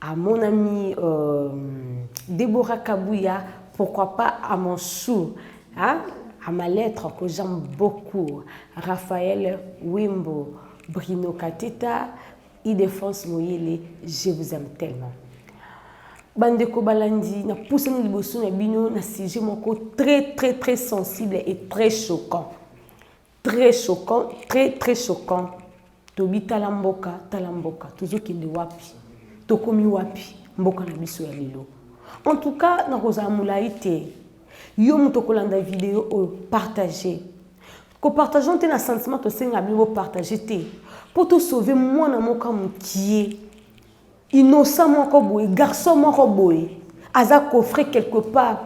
À mon ami euh, Deborah Kabuya, pourquoi pas à mon sou hein? À ma lettre que j'aime beaucoup, Raphaël Wimbo, Bruno Katita, Idefense Moyele, je vous aime tellement. bandeko balandi napusani liboso na bino na sujet moko très très très sensible et très choquant Très choquant, très très choquant. Tobi tala mboka, tala mboka. Tozo kende wapi? Tokomi wapi? Mboka na biso ya lelo. En tout cas, na kozala mulayi te. Yo moto kolanda video oyo, partager. Ko partageons te na sentiment tosenga bino bo partager te. Po to sauver mwana moko mukie. Innocent moko boye, garçon moko boye aza coffre quelque part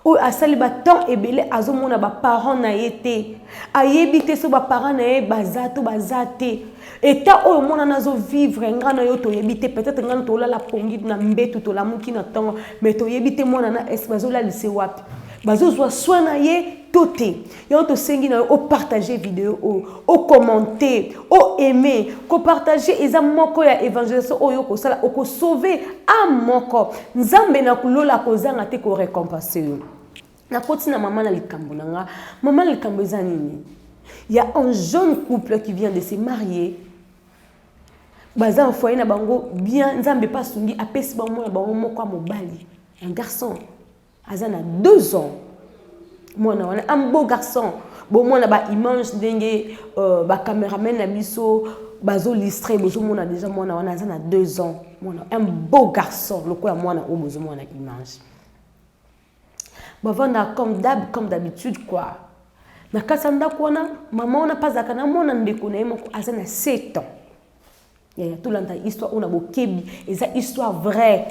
oyo asali ba temps ebele azomona ba parents na ye te ayebi te so ba parents na ye baza to baza te etat oyo mwana na azo vivre nga na yo toyebi te peut-être nga na tolala pongi na mbetu tolamuki na ntongo mais toyebi te mwana na est bazolalise wapi bazozwa soin na ye to te yango tosengi na yo opartage video oyo ocommente oaime kopartage eza moko ya évangélisation oyo okosala okosauve ame moko nzambe na kulola akozanga te korecompense yo nakoti na mama na likambo na nga mama na likambo eza nini ya un jeune couple qui vient de se marier baza na foyer na bango bien nzambe mpe asungi apesi bango mwana bango moko ya mobali un garçon aza na deux ans mwana wana un beau garçon bomona baimage ndenge uh, bacameraman na biso bazolistre bozomona deja mwana wana aza na deux ans mwana un beau garçon lokola mwana oyo bozomona image bavanda comme dab comme d'habitude quoi na kati ya ndako wana mama wana mpe azalaka na mwana ndeko na ye moko aza na 7 ans yaya tolanda histoire oyo na bokebi eza histoire vraie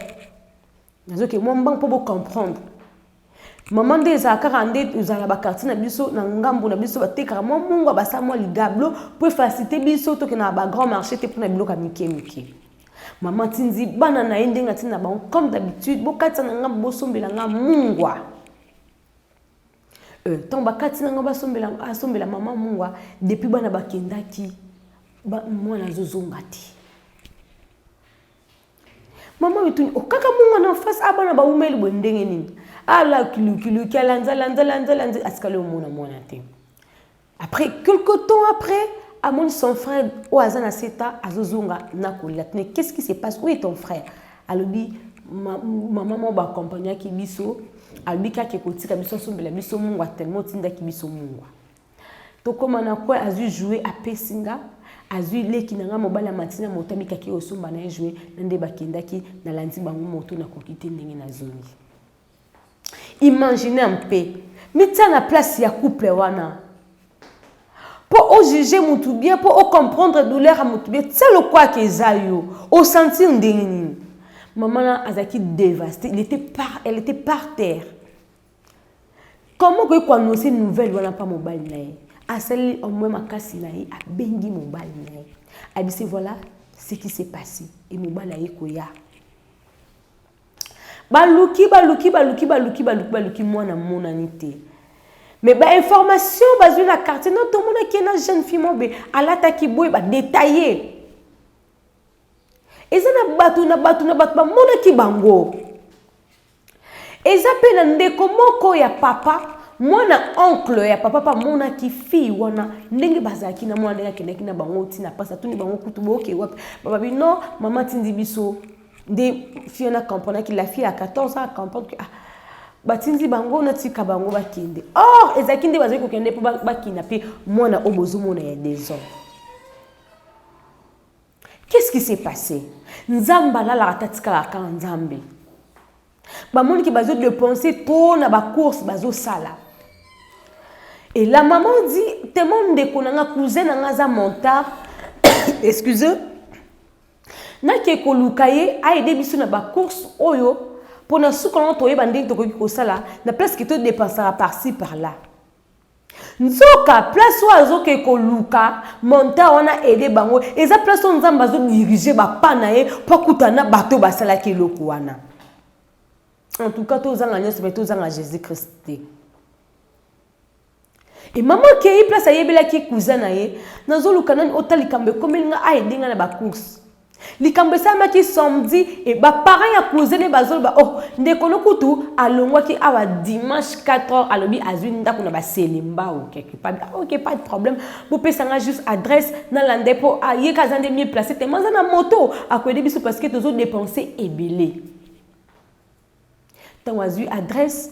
Nazoke mwa mbangu mpo bo comprendre. Mama nde ezala kaka nde ozala na bakartier na biso na ngambo na biso batekaka mwa mungwa basala mwa ligablo mpo efasite biso toke na bagrand marché te mpona biloko ya mike mike. Mama atindi bana na ye ndenge atindi na bango comme d'habitude bokatisa na ngambo bosombela nga mungwa. Euh, ntango bakati na ngambo asombela mama mungwa depuis bana bakendaki mwana azozonga te. Maman mituni okaka munga na face a bana bawumeli boye ndenge nini ala kilukiluki alanza lanza lanza lanza asikali omona mwana te après quelque temps après amoni son frère oyo aza na seta azozonga na kolela tine qu'est ce qui se passe où est ton frère alobi mama moko baakompagnaki biso alobi kaka ekotika biso asombela biso mungwa tellement otindaki biso mungwa Tokoma na coin azui jouer apesi nga azui leki na nga mobali ya matina moto abikaki osomba na ye jouer na nde bakendaki nalandi bango moto nakoki te ndenge nazongi imagine mpe mitia na place ya couple wana mpo ojuge motu bien mpo ocomprendre douleur ya motu bien tia lokwaki eza yo osentir ndenge nini mama na azalaki devaste il était par, elle était par terre Comment okoki ko annoncer nouvelle wana pa mobali na ye asali au moins makasi na ye abengi mobali na ye abisi voilà ce qui s'est passé et mobali aye koya baluki baluki baluki baluki baluki baluki mwana amonani te mais bainformation bazwi na quartier no tomonaki na jeune fille mobe alataki boye badetaille eza na bato na bato na bato bamonaki bango Eza pe na ndeko moko ya papa mwana oncle ya papa pa monaki fille wana ndenge bazalaki na mwana ndenge akendaki na bango ti na pasi atuni bango kutu boke wapi bababi no mama tindi biso nde fille wana comprenaki la fille ya 14 ans comprendre que ah batindi bango natika bango bakende or ezalaki nde bazali kokende mpo bakina mpe mwana oyo bozomona ya 2 ans Qu'est ce qui s'est passe? Nzambe alalaka te atikalaka kaka Nzambe. Bamoni ke bazo depenser trop na ba courses bazo sala. Et la maman dit tellement ndeko na nga cousin na nga aza menteur. Excusez. Nake koluka ye a aider biso na ba courses oyo pona suka na toyeba ndenge tokoki kosala na place ke to dépensaka par ci par là. Nzoka place oyo azo ke koluka montant wana aide bango eza place oyo nzambe azo dirige ba pas na ye po akutana na bato basalaki eloko wana en tout cas tozanga nyonso me tozanga jésus christ te e mama akei place ayebelaki cousin na ye nazoluka nani ota likambo ekomeli nga aide nga na bacourse likambo esalamaki samedi e baparent ya cousin ne bazoloba oh ndeko no kutu alongwaki awa dimanche 4 heures alobi azwi ndako na baselembao quelque part ah, ok pas de problème bopesa nga juste adresse nalanda ye mpo ah, ye ka aza nde mieux place te ma aza na moto akoyede biso parce que tozodepense ebele Ntango azwi adresse,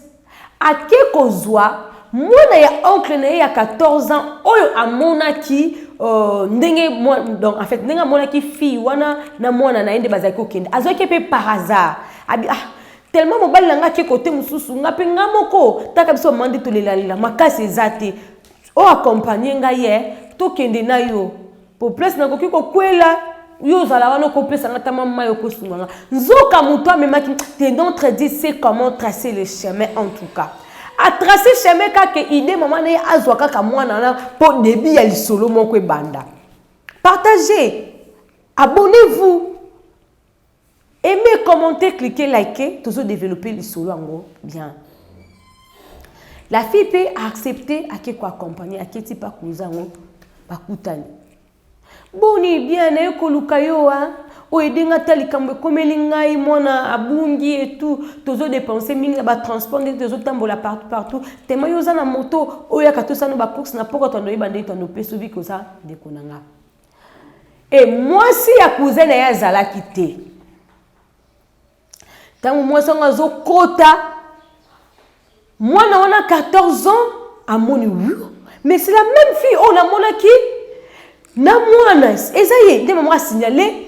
ake kozwa mwana ya oncle na ye ya 14 ans oyo amonaki euh, ndenge donc en fait ndenge amonaki fille wana na mwana na ye nde bazalaki kokende azwaki mpe par hasard abi ah tellement mobali na ngai ake kote mosusu ngai mpe ngai moko taka biso bamandi tolelalela makasi eza te O accompagner ngai eh, tokende na yo. Po place nakoki kokwela, yo ozala wana okopesa nga tama mayi okosunga nga. Nzoka moto amemaki, tes notre dit sait comment tracer le chemin en tout cas. A tracer chemin kaka ke idee mama na ye azwa kaka mwana wana po debut ya lisolo moko ebanda. Partagez, abonnez-vous. Aimez, commentez, cliquez, likez, tozo developper lisolo yango bien. La fille pe a accepté ake ko accompagner, aketi pa kuza yango bakutani. Boni bien naye koluka yo a oyo edenga ata likambo ekomeli ngai mwana abungi etu tozo dépenser mingi na batransport ndenge tozotambola partout partout tema yo oza na moto oyaka tosana bacourse na pokwa tando oyeba ndenge tando mpe sobi koza ndeko na ngai e mwasi ya cousin na ye azalaki te ntango mwasi yango azokota mwana wana 14 ans amoni wu mais c'est la même fille oyo namonaki na mwana eza ye nde mama asignale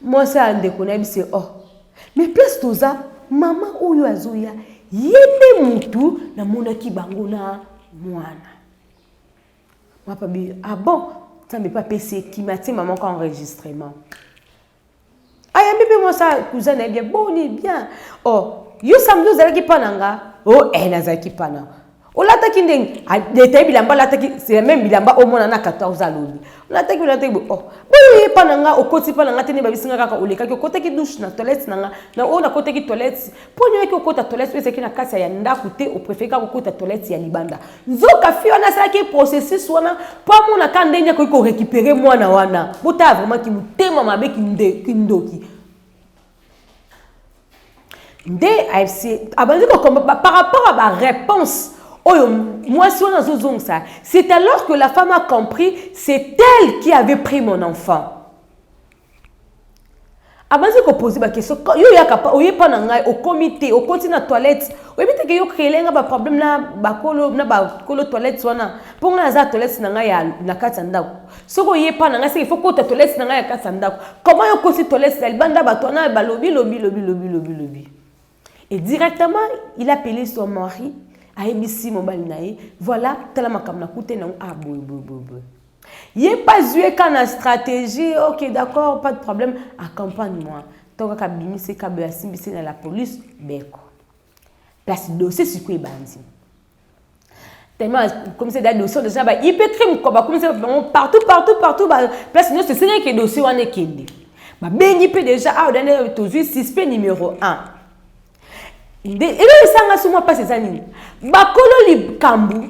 mwasi ya ndeko na ye bise oh mais place toza mama oyo azoya ye nde motu namonaki bango na mwana Papa bi ah bon nzambe mpe apesi ye kima atie mama ko enregistrement ayambi mpe mwasi cousin na ye bien boni bien o oh, yo samedi ozalaki mpa na nga o oh, eh, nazalaki mpa na olataki ndenge etaye bilamba alataki c'est même bilamba omona na 14 alobi olataki olataki oh boye epa na nga okoti epa na nga te nde babisi nga kaka olekaki okotaki douche na toilette na nga na oyo nakotaki toilette mpo nini oyaki kokota toilette oyo ezalaki na kati ya ndako te oprefereka kokota toilette ya libanda nzoka fi wana asalaki processus wana mpo amonaka ndenge akoki korekipere mwana wana botala vraimen kimotema mabe kindoki nde abandi kokomba par rapport a bareponse oyo mwasi wana azozongisa c'est alors que la femme a compris c'est elle qui avait pris mon enfant abandi kopose bakestion yo oyaka pa oye mpa na ngai okomi te okoti na toilette oyebi teke yo créele ngai baproblème na bakolo na bakolo toilette wana mpo ngai naza toilette na ngai na kati ya ndako soki oye mpa na ngai seke fo kota toilette na ngai ya kati ya ndako koma yo okoti toilette na libanda bato wana balobi lobi lobi lobi lobi lobi Et directement, il appelait son mari, ayebisi mobali na ye, voilà, tala makambo na kute na ah boy boy boy boy. Ye pas joué quand na stratégie, OK, d'accord, pas de problème, accompagne-moi. Tant kaka bimise kabe asimbisi na la police, beko. Place dossier sikoyo ebandi. tellement akomisa da dossier déjà ba ipe crime quoi bakomisa bango partout partout partout ba place nyonso esengeli ke dossier wana ekende babengi mpe déjà awa da nde tozwi suspect numéro 1 nde eloko esanga so mwa mpasi eza nini bakolo likambo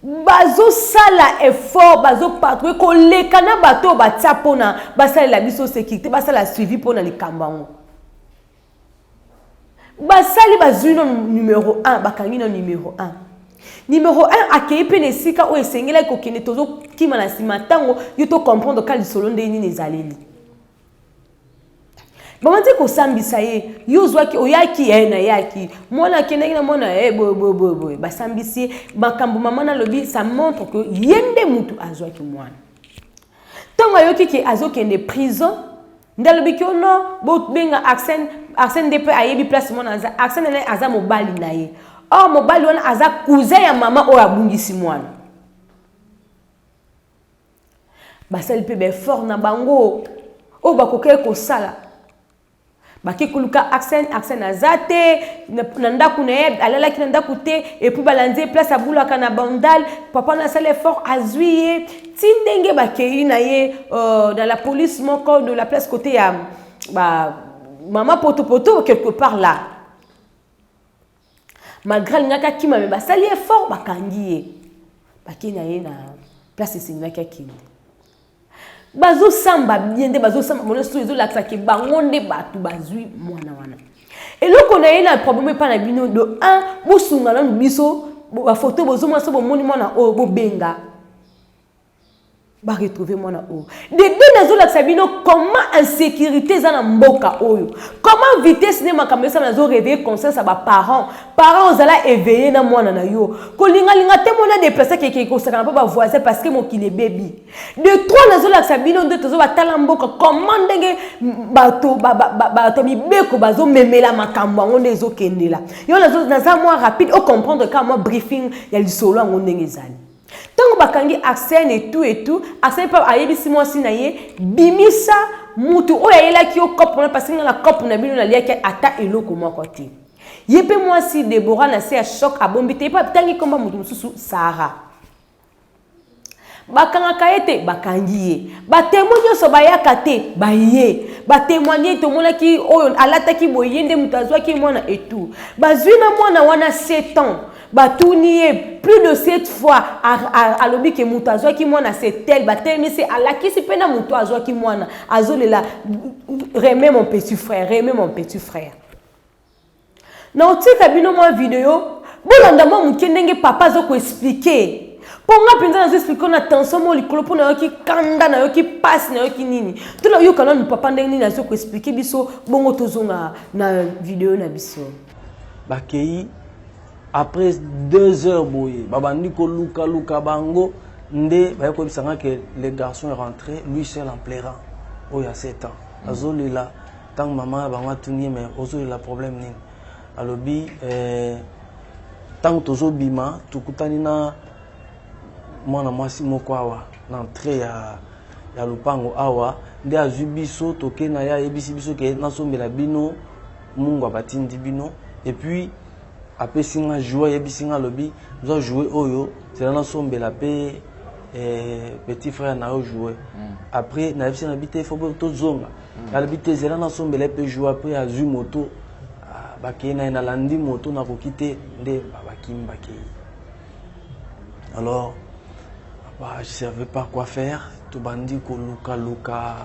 bazosala effort bazopatrouille koleka na bato oyo batya mpona basalela biso sécurité basala suivi mpona likambo yango basali bazwi no numero 1 bakangi no numero 1 numero 1 akei mpe na esika oyo esengelaki kokende tozokima na nsima ntango yo tocomprendre ka lisolo ndenge nini ezaleli bamati kosambisa ye yo ozwaki oyaki ye eh, nayaki mwana akendaki na mwana ye eh, boyeboyeboyeboye basambisi ye makambo mama nalobi ça montre que ye nde motu azwaki mwana ntango ayoki ke azokende prison nde alobi kio no bobenga arsène arsène nde mpe ayebi place mwana aza arsène naye aza mobali na ye or oh, mobali wana aza cousin ya mama oyo abungisi mwana basali mpe baeffort na bango oyo bakokaki kosala bake koluka arsène arsène aza te na ndako na ye alalaki na ndako te epuis balandi ye place abulaka na bandal papa na asali effort azwi ye ti ndenge bakei na ye euh, na la police moko de la place kote ya ba mama potopoto quelque part là malgré alingaki akima me basali ye fort bakangi ye bakei na ye na place esengaki akende bazosamba bien nde bazosamba mona so ezolakisa ke bango nde bato bazwi mwana wana eloko na ye na problème epai na bino de 1 bosunga nanu biso bafoto bozomona so bomoni mwana oyo bobenga ba retrouver mwana oyo dede nazolakisa bino comment insécurité eza na mboka oyo comment vitesse nde makambo esala nazo réveille conscience ya baparent parent ozala éveille na mwana na yo kolingalinga te mona déplace keke kosakana mpo bavoisin parce que mokili ebebi de trois nazolakisa bino nde tozo batala mboka comment ndenge bato bato mibeko bazomemela makambo yango nde ezokendela yo naza mwa rapide ocomprendre kaka mwa briefing ya lisolo yango ndenge ezali Tango bakangi Arsène et tout et tout, Arsène pa ayebisi mwasi na ye bimisa mutu oyo ayelaki yo cop wana parce que nga na cop na bino naliaki ata eloko moko te. Ye pe mwasi Deborah na se ya choc abombi te, ye pe atangi kombo ya mutu mosusu Sarah. Bakangaka ye te, bakangi ye. Ba temoins nyonso bayaka te, baye. Ba temoigner tomonaki oyo alataki boye ye nde mutu azwaki mwana et tout. Bazwi na mwana wana 7 ans. batuni ye plus de cette fois alobi ke moto azwaki mwana setel batelemisi alakisi mpe na moto azwaki mwana azolela reme mon petit frère reme mon petit frère na otika bino mwa video bolanda mwa moke ndenge papa aza koexplike mpo nga mpenza nazo explike na tension mo likolo mpo nayoki kanda nayoki mpasi nayoki nini to nayoka nanu papa ndenge nini azo koexplike biso bongo tozonga na video na biso bakei après deux heures boye babandi kolukaluka bango nde baye koyebisa nga ke le garçon est rentré lui seul en pleurant oyo ya sept ans mm. azolela ntango mama ya bango atuni ye mais ozolela problème nini alobi ntango eh, tozobima tokutani na mwana mwasi moko awa na entrée ya ya lopango awa nde azwi biso toke na ye ayebisi biso ke nasombela bino Mungwa batindi bino et puis apesi nga joue ayebisi nga alobi zwa joue oyo zela nasombela mpe eh, petit frère na yo joue mm. après nayebisi nabi te fo tozonga mm. alobi te zela nasombela ye mpe joue après azwi moto ah, bakei na ye nalandi moto nakoki te nde bakimi bakei alors bah, je savais pas quoi faire tobandi kolukaluka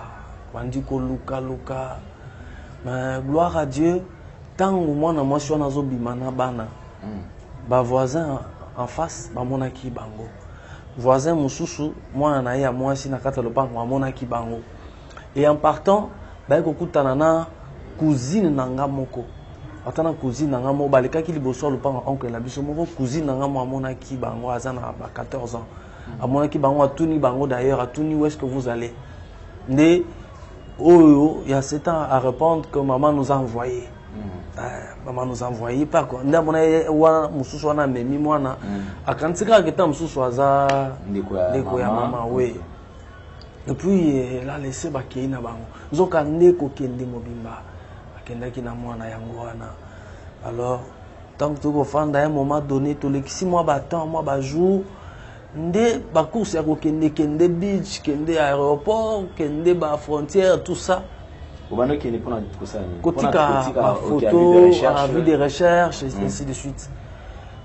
bandi kolukaluka Mais gloire à Dieu, tango mwana mwasi wana azo bima na bana, mm. ba voisins en face bamonaki bango. Voisin mususu mwana na ye ya mwasi na kati ya lopango amonaki bango. Et en partant, baye kokutana na cousine na nga moko. ata na cousine na nga moko balekaki liboso ya lopango oncle na biso moko cousine na nga moko amonaki bango aza na ba 14 ans mm. amonaki bango atuni bango d'ailleurs atuni où est ce que vous allez nde oyo ya setan a répondre que maman nous a envoyé mm. eh, maman nous a envoyé par quoi nde amona ye wana mosusu wana amemi mwana mm. akanisi kaka keta mosusu aza ndeko ya mama we et puis eh, la laisse bakei na bango nzoka nde kokende mobimba akendaki na mwana yango wana alors ntango toki kofanda ya moment donné tolekisi mwa batemps mwa bajour nde ba course ya kokende kende beach kende aéroport kende ba frontière tout ça kotika bafoto avis de recherche mm. ainsi de suite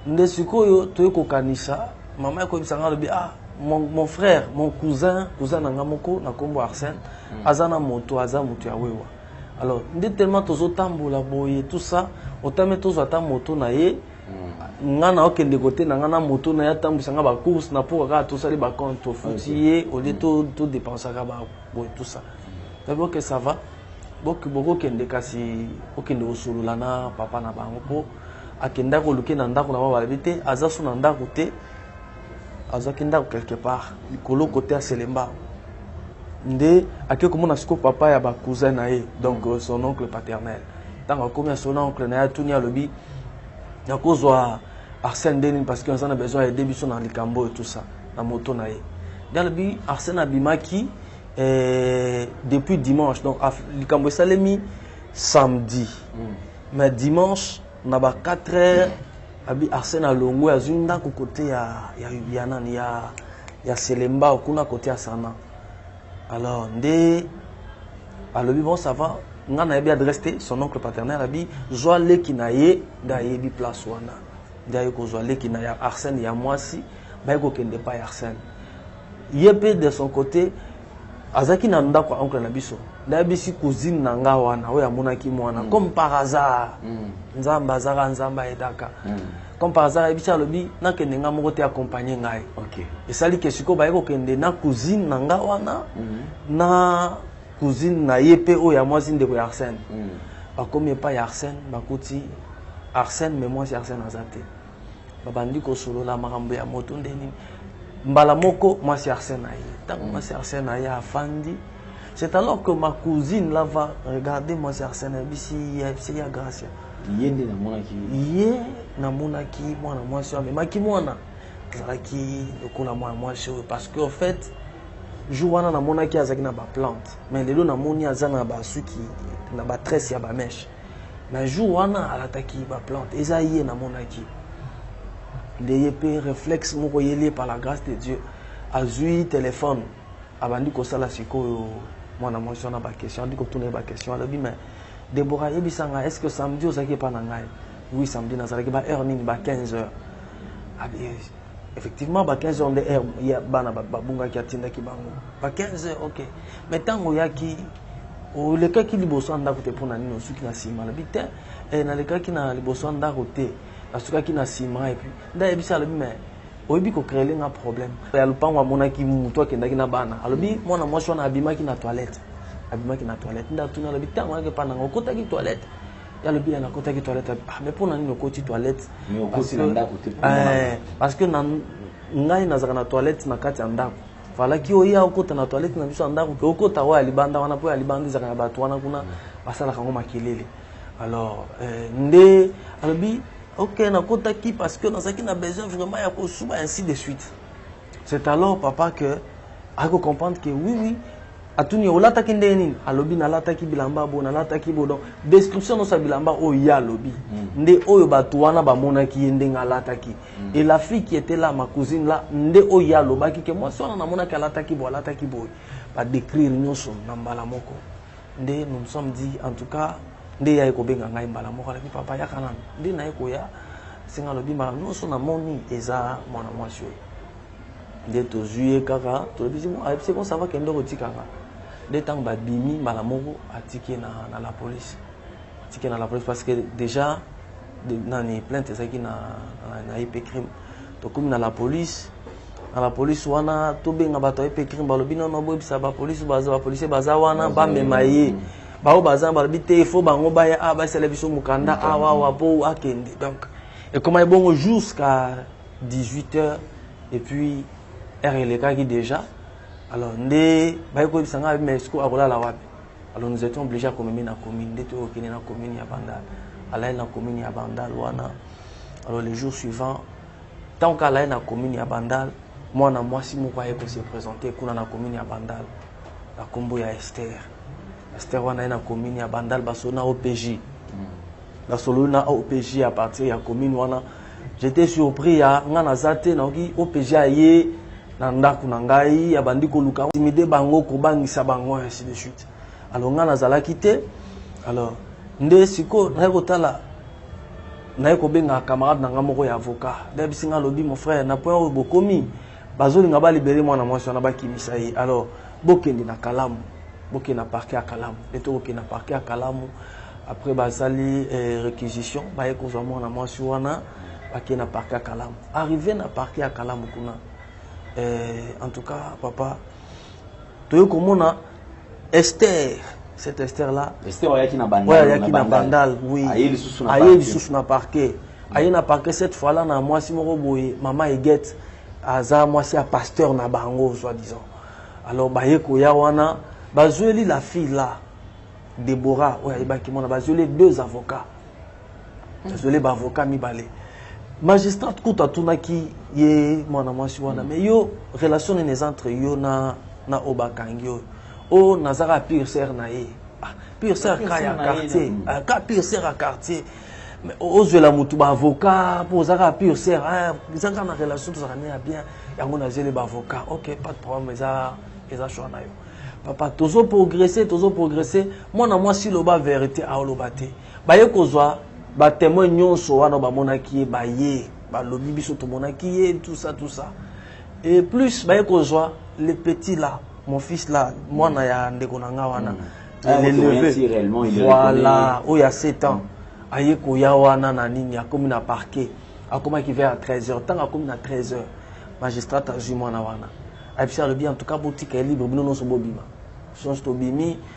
nde sikoyo toye kokanisa mama ekoyebisa ngai alobi ah mon, mon frère mon cousin cousin na ngai moko na nkombo arsène mm. aza na moto aza moto ya wewa alors nde tellement tozotambola boye tout ça otame tozwa ata moto na ye nga na okende kote na nga na moto na ye atambwisa nga bacourse na mpoka kaka tosali bacompte tofuti ye olie todepensaka boye tout ça nabi oke ça va bokokende kasi okende kosolola na papa na bango mpo akenda koluke na ndako na bango balobi te aza so na ndako te azwaki ndako quelque part likolo kote ya selemba nde ake komona siko papa ya bacousin na ye donc son oncle paternel ntango akomi asolo na oncle na ye atuni alobi nakozwa arsène nde nini parce que aza na besoin aide biso na likambo oyo tout ça na moto na ye galabi arsène abimaki eh, depuis dimanche donc likambo esalemi samedi mm. mais dimanche na ba 4 heures abi arsène alongo azwi ndako kote ya, ya, ya nani ya, ya selembao kuna kote ya sana alors nde alobi bon ça va nga nayebi adresse te son oncle paternel abi zwa leki na ye nde ayebi place wana nde aye kozwa leki na ya arsène ya mwasi baye kokende epai ya arsène ye mpe de son côté azalaki na ndako ya oncle na biso nde ayebisi cousine na nga wana oyo amonaki mwana mm. comme par hasard mm. nzambe azaka nzambe ayedaka mm. comme par hasard ayebisi alobi nakende nga moko te accompagne ngai okay. esali ke sikoyo baye kokende na cousine na nga wana mm -hmm. na cousine na ye mpe oyo ya mwasi ndeko ya arsène mm -hmm. bakomi epai ya arsène bakuti arsène me mwasi arsène aza te babandi kosolola makambo ya moto nde nini mbala moko mwasi arsène aye ntango mm. mwasi arsène aye afandi c'est alors que ma cousine lava regarde mwasi arsène ayebisi ye ayebisi ya gracia ye nde namonaki ye namonaki mwana mwasi oyo amemaki mwana ezalaki lokola mwana mwasi oyo parce que en fait jour wana namonaki azalaki na baplante mais lelo namoni aza na basuki na batresse ya bameshe mais jour wana alataki baplante eza ye namonaki nde ye mpe réflexe moko eyeli ye par la grâce de dieu azwi telefone abandi kosala sikoyo mwana mwasi wana baquestion abandi kotuna ye baquestion alobi mais Deborah yebisa nga est ce que samedi ozalaki epa na ngai oui samedi nazalaki ba heure nini ba 15 heures effectivement ba 15 heures nde heure ya bana babungaki atindaki bango ba 15 heures ok mais ntango oyaki olekaki liboso ya ndako te mpo na nini osuki na nsima alobi te eh, nalekaki na liboso ya ndako te nasukaki na nsima epuis nde ayebisi alobi mais oyebi ko créer nga problème ya lupango amonaki mutu akendaki na bana alobi mwana mwasi wana abimaki na toilette abimaki na toilette nda tuna alobi tango yake pa nanga okotaki toilette ya alobi ya nakotaki toilette ah mais pona nini okoti toilette parce que eh, parce que na ngai nazaka na toilette na kati ya ndako falaki oya okota na toilette na biso ya ndako ke okota oyo ya libanda wana mpo ya libanda ezaka na bato wana kuna basalaka yango makelele alors eh, nde alobi Ok na kota ki parce que nazaki na besoin vraiment ya kosuba ainsi de suite. C'est alors papa que ako comprendre que oui oui atuni olataki ndenge nini alobi nalataki bilamba bo nalataki bo donc description nyonso ya bilamba oyo ye alobi mm. nde oyo bato wana bamonaki ye ndenge alataki mm. et la fille qui était là ma cousine là nde oyo ye alobaki ke mwasi wana namonaki alataki bo alataki boye badécrire nyonso na mbala moko nde nous nous sommes dit en tout cas nde yaye kobenga ngai mbala moko alaki papa yaka nanu nde naye koya senga alobi mbala nyonso namoni eza mwana mwasi oyo nde tozwi ye kaka tolobisi ayebisi ko sava kende okotikaka nde ntango babimi mbala moko atiki na, na la police atiki na la police parce que déjà de, nani plainte ezalaki na, na, na ep crime Tokomi na la police na la police wana tobenga bato ya epecrim balobi nono boyebisa bapolice bapolisier baza wana bamema ye baoyo baza balobi te ifo bango baya awa basala biso mokanda awa awa mpo akende donc ekoma ebongo jusqu'à 18 heures et puis heure elekaki déjà alors nde baye koyebisa ngai mais siko akolala wapi alors nous étions obligé akomemi na commune nde toyokende na commune ya bandal alayeli na commune ya bandal wana alors le jour suivant ntango kala ye na commune ya bandal mwana mwasi moko aye ko se présenter kuna na commune ya bandal na nkombo ya ester ester wana ye na commune ya bandal basolo na opj hmm. nasololi na opj ya partir ya commune wana j'étais surpris ya ngai naza te nayoki opj aye na ndako na ngai abandi koluka intimide bango kobangisa bango ainsi de suite alors ngai nazalaki te alors nde sikoyo naye kotala naye kobenga camarade na ngai moko ya avocat nde abisi ngai alobi mon frère na point oyo bokomi bazolinga balibere mwana mwasi wana bakimisa ye alors bokende na kalamu bokende na parke ya kalamu nde tokokende na parke ya kalamu après basali eh, réquisition baye kozwa mwana mwasi wana bakende na parke ya kalamu arrive na parke ya kalamu kuna eh, en tout cas papa toye komona Esther cette Esther là Esther ayaki na bandal ouais, ayaki na bandal oui aye lisusu na aye lisusu na parquet mm. aye na parquet cette fois là na mwasi moko boye mama Eget aza mwasi ya pasteur na bango soit disant alors baye koya wana bazweli la fille là Deborah oyo ayebaki mwana bazweli deux avocats nazweli baavocat mibale magistrate kutu atunaki ye mwana mwasi wana mais yo relation nini eza entre yo na, na oyo bakangi oyo oyo nazaka pire sere na ye ah, pire sere ka ya quartier ah, ka pire sere ya quartier ozwela motu baavocat mpo ozaka pire sere ah, eza kaka na relation tozalaka ne ya bien yango nazweli baavocat ok pas de problème eza eza choix na yo papa tozo progresse tozo progresse mwana mwasi loba verité aoloba te Baye kozwa ba temoins nionso wana oyo bamonaki ye baye balobi biso tomonaki ye tout ça tout ça et plus baye kozwa le petit là mon fils là mwana ya ndeko na nga wana ah, le neveu voilà oyo ya 7 ans mm. aye koya wana na nini akomi na parquet akomaki vers 13 heures ntango akomi na 13 heures magistrat azwi mwana wana abisi alobi en tout cas botika ye libre bino nyonso bobima sonso tobimi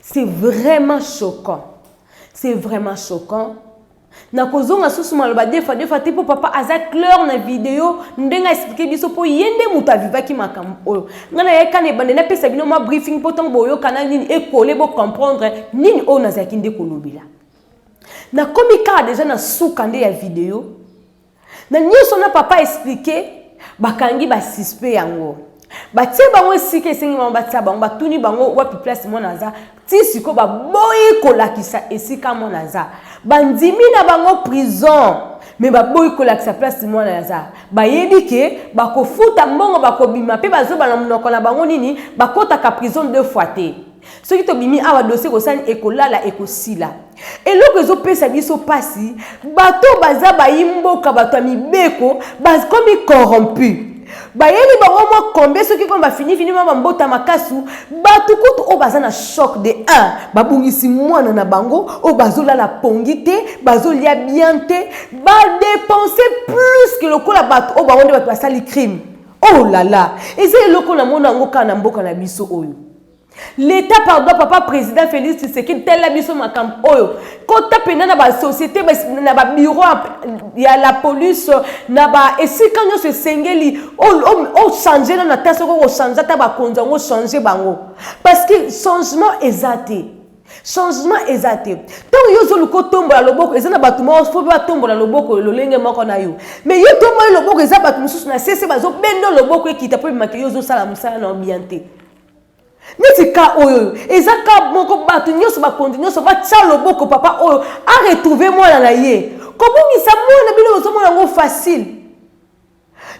C'est vraiment choquant. C'est vraiment choquant. nakozonga susu maloba defa defa te mpo papa aza claire na video ndenge aexplike biso mpo ye nde moto avivaki makambo oyo ngai nayaka na ebande napesa bino mwa briefing mpo ntango boyokana nini ekole bocomprendre nini oyo nazalaki nde kolobela nakomi kaka deja na suka nde ya video na nyonso na papa explike bakangi basispe yango batie bango esika esengi bango batia bango batuni bango wapi place mwana aza ti sikoyo baboyi kolakisa esika mwana aza bandimi na bango prison me baboyi kolakisa place mwana aza bayebi ke bakofuta mbongo bakobima mpe bazoba na monoko na bango nini bakotaka prison deux fois te soki tobimi awa dosi ekosani ekolala ekosila eloko ezopesa biso mpasi bato baza bayi mboka bato ya mibeko bakomi corrompu bayeli bango mwa kombe soki kono bafinifini mwa bambota makasu bato kutu oyo baza na choc de 1 babungisi mwana na bango oyo bazolala pongi te bazolia bien te badepense plus ke lokola bato oyo bango nde bato basali crime oh lala eza eloko na mona yango kaka na mboka na biso oyo L'Etat pardon papa président Félix Tshisekedi tala biso makambo oyo kota mpenza na basociété na babiro ya la police na ba esika nyonso esengeli ochange nano ata soki okochange ata bakonzi yango ochange bango parce que changement eza te changement eza te ntango yo ozoluka otombola loboko eza na bato moko fo batombola loboko lolenge moko na yo mais yo tomboli loboko eza bato mosusu na sese bazobenda loboko ekita mpo ebimaka yo ozosala mosala na yo bien te neti ka oyo oyo eza ka moko bato nyonso bakonzi nyonso batya loboko papa oyo aretrouve mwana na ye kobungisa mwana na bino bozomona yango facile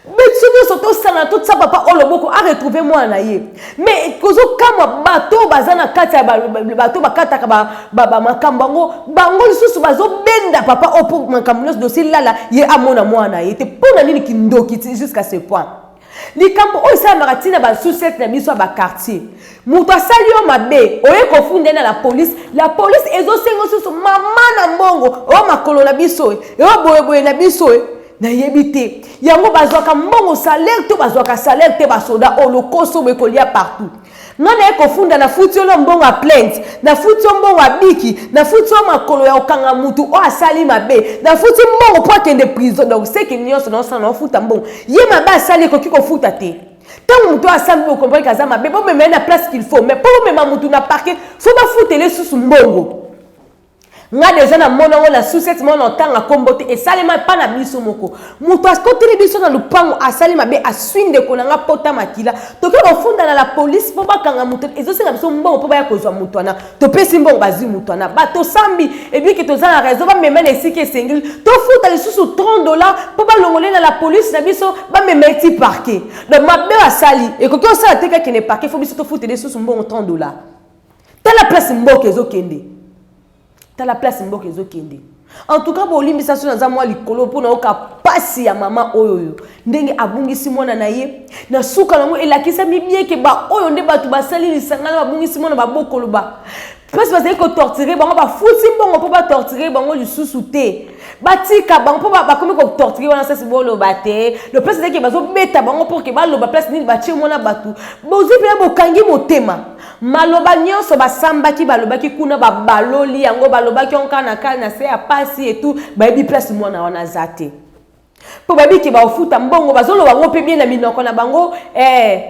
biso nyonso tosangana totya papa oyo loboko aretrouve mwana na ye mai kozokamwa bato oyo baza na kati ya bato bakataka makambo yango bango lisusu bazobenda papa oyo mpo makambo nyonso dosilala ye amona mwana na ye te mpo na nini kindoki jusqu'à ce point likambo oyo esalamaka ntina basusete na biso ya bakartier moto asali yo mabe oye kofunda na la polise la polise ezosenga susu mama na mbongo oyo makolo na biso eyo boyeboye na biso nayebi te yango bazwaka mbongo salaire to bazwaka salaire te basoda oyo lokoso boye kolia partout Nga naye kofunda na futi yo na mbongo ya plainte, na futi yo mbongo ya biki, na futi yo makolo ya kokanga mutu oyo asali mabe, na futi mbongo po akende prison donc ce que nionso na osala na ofuta mbongo. Ye mabe asali ekoki kofuta te? Tango mutu oyo asali bo comprendre aza mabe bo mema ye na place qu'il faut mais po bo mema mutu na parquet faut ba futela ye susu mbongo. nga deja na mona ngo na susete mona otanga kombo te esalema pa na biso moko moto akoteli biso na lupango asali mabe aswi ndeko na nga pota makila toke kofunda na la polise mpo bakanga moto ezosenga biso mbongo mpo baya kozwa moto wana topesi mbongo bazwi moto wana ba tosambi ebiki toza na raison bamema na esika esengeli tofuta lisusu 30 dollar mpo balongole na la polise na biso bamema eti parke donc mabe asali ekoki osala te kakende parke fo biso tofutela lisusu mbongo 30 dollar tala place mboka ezokende tala place mboka ezokende en tout cas bolimbisa so naza mwa likolo mpo nayoka mpasi ya mama oyo oyo ndenge abungisi mwana na ye na suka nango elakisami bieke baoyo nde bato basali lisanga na babungisi mwana babokoloba place bazali kotorture bango bafuti mbongo mpo batorture bango lisusu te batika bango mpo bakomi kotorture wana sasi boloba te le place ezalaki bazobeta bango mpo ke baloba place nini batie mwana bato bozwi mpena bokangi motema Maloba nionso basambaki balobaki kuna babaloli yango balobaki onka na ka na se ya pasi et tout bayebi place mwana wana aza te mpo bayebi ke baofuta mbongo bazoloba yango mpe bien na minoko na bango eh,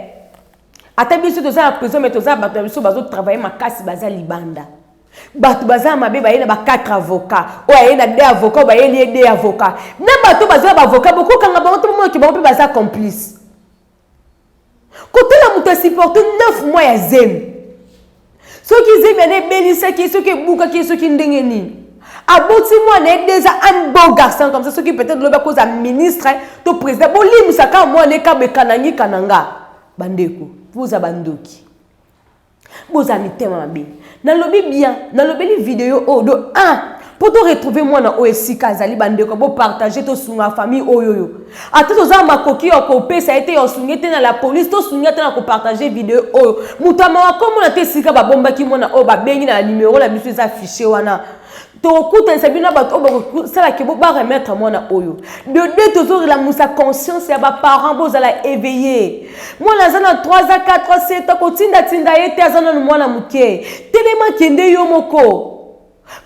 ata biso toza na prison me toza bato na biso bazotravaille makasi baza libanda bato baza mabe baye na ba 4 avocat oyo aye na de avocat oyo bayeli ye de avocat na bato baza na baavocat bokokanga bango to bomonoki bango mpe baza complice kotala moto asiporte 9 mois ya zemi soki zemi yana ebelisaki soki ebukaki soki ndenge nini aboti mwana ye deja un beau garçon comme ça soki peut-être lobi akozala ministre to président bolimbisa kaka mwana ye kaba ekanangi kananga bandeko boza bandoki boza mitema mabe nalobi bien nalobeli video oyo do a mpo to retrouve mwana oyo esika azali bandeko bopartage tosunga famille oyo oyo ata toza na makoki ya kopesa ye te ya osunge te na la polise tosungi ata na kopartage video oyo moto ya mawa komona te esika babombaki mwana oyo babengi na numero na biso eza fiche wana tokokutanisa bino na bato oyo bakosala ke bo baremettre mwana oyo de deux tozorelamusa conscience ya baparent bozala éveillé mwana aza na 3 a 4 a 7 a kotindatinda ye te aza nano mwana moke telema kende yo moko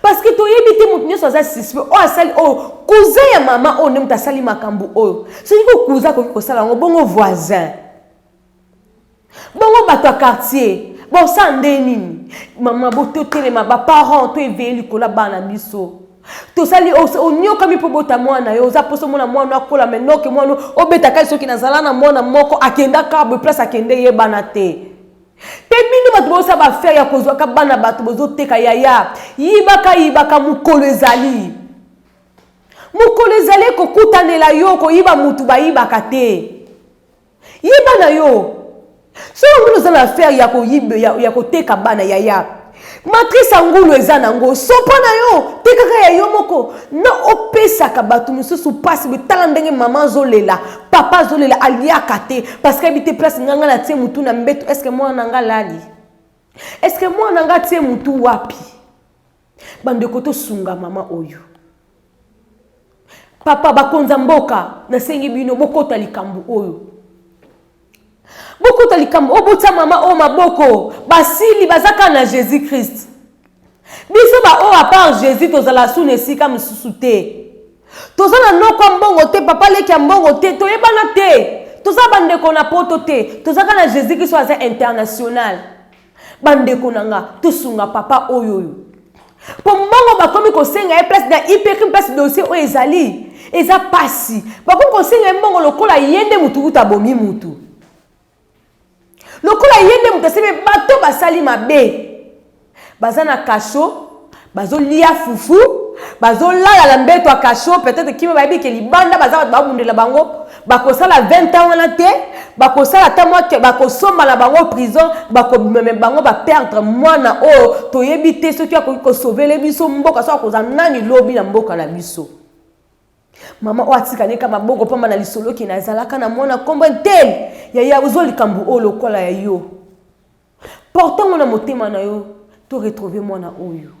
parce que toyebi te moto nyonso aza suspect oyo asali oyo cousin ya mama oyo nde moto asali makambo oyo soki ko cousin akoki kosala yango bongo voisin Bongo bato ya quartier bosala nde nini? Mama bo totelema ba parents to eveye likolo ya bana na biso. Tosali oniokami mpo bota mwana na yo, oza poso mona mwana akola me noke mwana obeta kai soki nazala na mwana moko akenda kabwe place akende yebana te. Mpe bino bato bosala bafere ya kozwaka bana bato bozoteka yaya yibaka yibaka mokolo ezali mokolo ezali kokutanela yo koyiba motu bayibaka te. Yeba na yo. Soki ngulu oza na affaire ya koyibe ya, ya koteka bana yaya. Matrice ya ngulu eza nango sopa na yo tekaka ya yo moko na opesaka bato mosusu mpasi tala ndenge mama azolela papa azolela aliaka te parce que ayebi te place nga nga natie motu na mbeto eske mwana na nga lali eske mwana na nga atie motu wapi Bandeko tosunga mama oyo. Papa bakonza mboka nasengi bino bokota likambo oyo. Bokota likambo oyo botya mama oyo maboko basili baza kaka na Jésus Christ. Biso ba oyo apart Jésus tozala suna esika mosusu te. Toza na noko ya mbongo te, papa leki ya mbongo te, toyebana te. Toza bandeko na poto te, tozaka na Jésus Christ oyo aza international. Bandeko na nga, tosunga papa oyo oyo. Po mbongo bakomi kosenga ye place na IPRIM place dossier oyo ezali, eza pasi. Bakomi kosenga ye mbongo lokola ye nde mutu kutu abomi mutu. Lokola ye nde mutu asemi bato basali mabe. Baza na kasho, bazolia fufu bazolala na mbeto ya kasho peut-être kimi bayebi ke libanda baza bato babundela bango bakosala 20 ans wana te bakosala ata mwa bakosomba na bango prison bakobimeme bango baperdre mwana oyo toyebi te soki akoki kosovele biso mboka soki akoza nani lobi na mboka na biso mama oyo atikali ka maboko mpamba na lisoloki nazalaka na mwana nkombo ntele yaya ozwa likambo oyo lokola ya yo Porte yango na motema na yo to retrouver mwana oyo.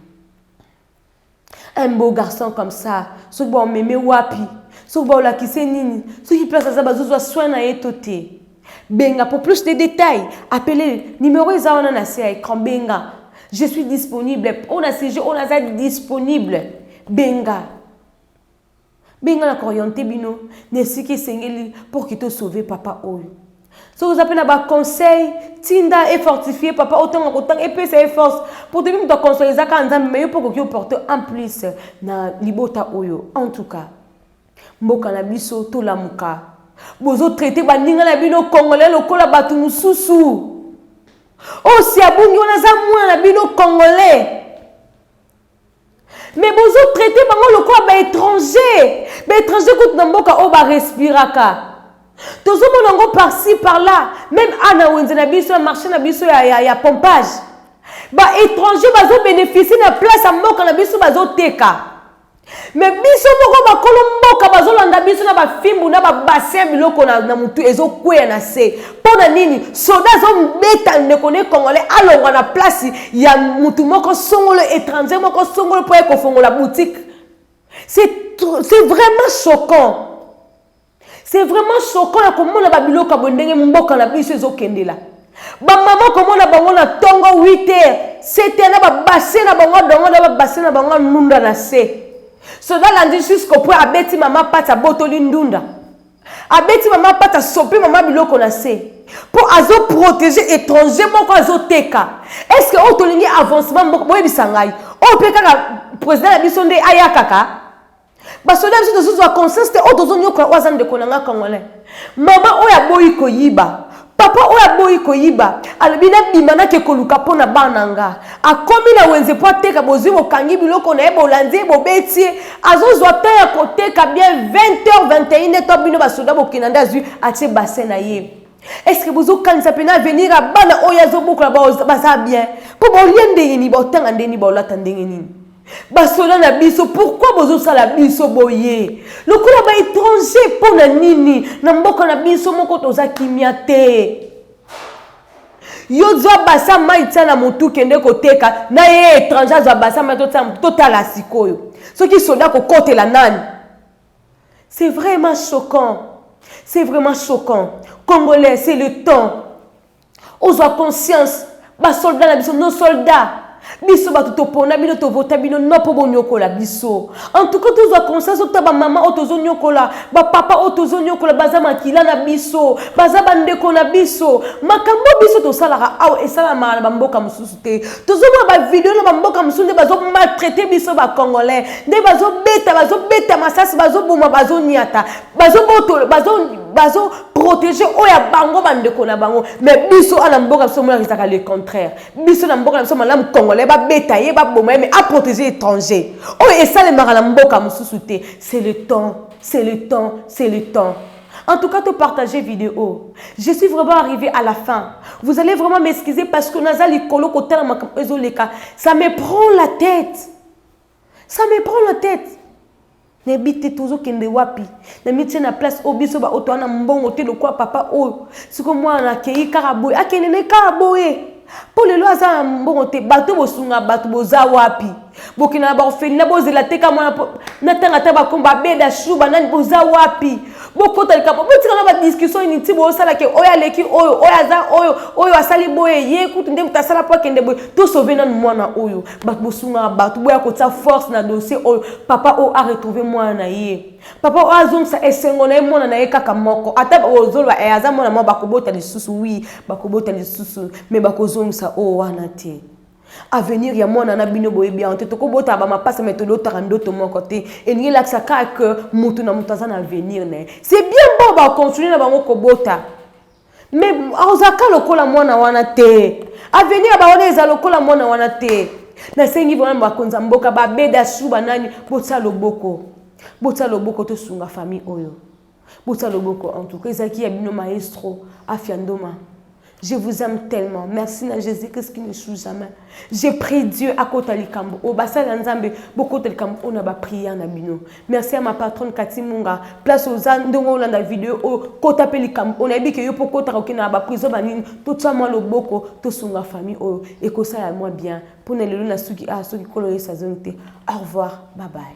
Un beau garçon comme ça, soki ba omeme wapi, soki ba olakise nini, soki place aza bazozwa soin na ye to te. Benga pour plus de détails, appelez numéro eza wana na se ya écran benga. Je suis disponible. On a sujet, on a disponible. Benga. Benga na koriente bino na esika esengeli pour que to sauver papa oyo. soki oza mpe na baconseil tinda efortifie papa oyo ntango akotanga epesa ye force mpo toyebi moto aconseil eza kaka nzambe me yo mpo okoki oporte en plus na libota oyo en tout cas mboka na biso tolamuka bozotraite baninga na bino congolais lokola bato mosusu oyo si abungi wana aza mwana na bino congolais mais bozo traite bango lokola ba étranger ba étranger kutu na mboka oyo ba respiraka tozomona yango parci par là meme a na wenze na biso ya marché na biso ya, ya, ya pompage ba étranger bazobénéficie na place ya mboka na biso bazoteka me biso moko bakolo mboka bazolanda biso na bafimbu na babassin biloko na, na motu ezokweya na se mpo na nini soda azobeta ndeko ne congolais alongwa na place ya motu moko songolo étranger moko songolo mpo ye kofongola boutique c'est vraiment choquant c'est vraiment choquant ya komona babiloko ya boye ndenge mboka na biso ezokendela bamama komona bango na ntongo 8 heures 7 heures na babase na bango dongo na babase na bango anunda na se soda alandi jusqu'au point abeti mama pati abotoli ndunda abeti mama pata sopi mama biloko na se mpo azoprotege étranger moko azoteka estce oyo tolingi avancement moko boyebisa ngai oyo mpe kaka président na biso nde ayakaka basoda biso tozozwa conscience te oyo tozonyokola oyo aza ndeko na ngai congolais mama oyo aboyi koyiba Papa oyo aboyi koyiba alobi nabima nake koluka mpo na bana nga. Akomi na wenze mpo ateka, bozwi bokangi biloko na ye, bolandi ye, bobeti ye. Azozwa temps ya koteka bien 20 heures, 21 heures to bino basoda bokei na nde azwi atie bassin na ye. Est-ce que bozokanisa mpe na avenir ya bana oyo ye azobokola baza bien? Mpo bolie ndenge nini, baotanga ndenge nini, baolata ndenge nini? basoda na biso pourkui bozosala biso boye lokola baétranger mpo na nini na mboka na biso moko toza kimia te yo zwa basa mai tia na motu kende koteka na ye étranger azwa basa mai totia motu totala sikoyo soki soda kokotela nani c'est vraiment choquant c'est vraiment choquant congolais c'est le temps Ozwa conscience ba soldat na biso nos soldats biso bato topona bino tovota bino no mpo bonyokola biso antuka tozwa conscience ota bamama oyo tozonyokola bapapa oyo tozonyokola baza makila na biso baza bandeko na biso makambo biso tosalaka awa esalamaka na bamboka mosusu te tozomona bavideo na bamboka mosusu nde bazomaltraite biso bacongolais nde bazobeta bazobeta masasi bazoboma bazonyata bazobotolo bazoprotege bazo oyo ya bango bandeko na bango mais biso ana mboka biso monaka ezalaka le contraire biso na mboka na biso malamu congolais babeta ye baboma ye mais aprotege étranger oyo esalemaka na mboka mosusu te c'est le temps c'est le temps c'est le temps En tout cas, tu partagé vidéo. Je suis vraiment arrivée à la fin. Vous allez vraiment m'excuser parce que Nazali Kolo Kotala Makampezo Leka, ça me prend la tête. Ça me prend la tête. nayebi te tozokende wapi namitie na place oyo biso baoyo toa na mbongo te lokola papa oyo siko mwana akei kaka boye akende ne kaka boye mpo lelo aza na mbongo te bato bosunga bato boza wapi bokenda na baorphelina bozela teka mwana natanga ata bakombo abeda shu banani boza wapi bokota likambo botika na badiskussion inutile bosala ke oyo aleki oyo oyo aza oyo oyo asali boye ye kutu nde moto asala mpo akende boye tosove nanu mwana oyo bato bosungaka bato boya kotia force na dossier oyo papa oyo aretrouve mwana na ye papa oyo azongisa esengo na ye mwana na ye kaka moko ata ozoloba e aza mwana mwa bakobota lisusu wi bakobota lisusu me bakozongisa oyo wana te avenir ya mwana na bino boyebi yango te tokobotaka bamapasa me tolotaka ndoto moko te elingi elakisa kaka ke moto na moto aza na avenir na ye se bien bo bacontinue na bango kobota mais ozalaka lokola mwana wana te avenir ya bawana eza lokola mwana wana te nasengi vraiment bakonza mboka babeda su banani botya loboko botya loboko tosunga famille oyo botya loboko en tout cas ezalaki ya bino maestro afia ndoma Je vous aime tellement. Merci à Jésus-Christ qui ne sous jamais. Je prie Dieu à côté likambo. Au bassin d'Anzambe, beaucoup de likambo on a prière na bino. Merci à ma patronne Cathy Munga. Place aux ans, ndongo olanda vidéo o oh, kota pe likambo. On a dit que yo po kota ko kina ba prison ba nini, to tsa mwa loboko, to sunga famille oyo oh, et ko sala moi bien. Pona lelo na suki ah suki kolo yesa zone te. Au revoir. Bye bye.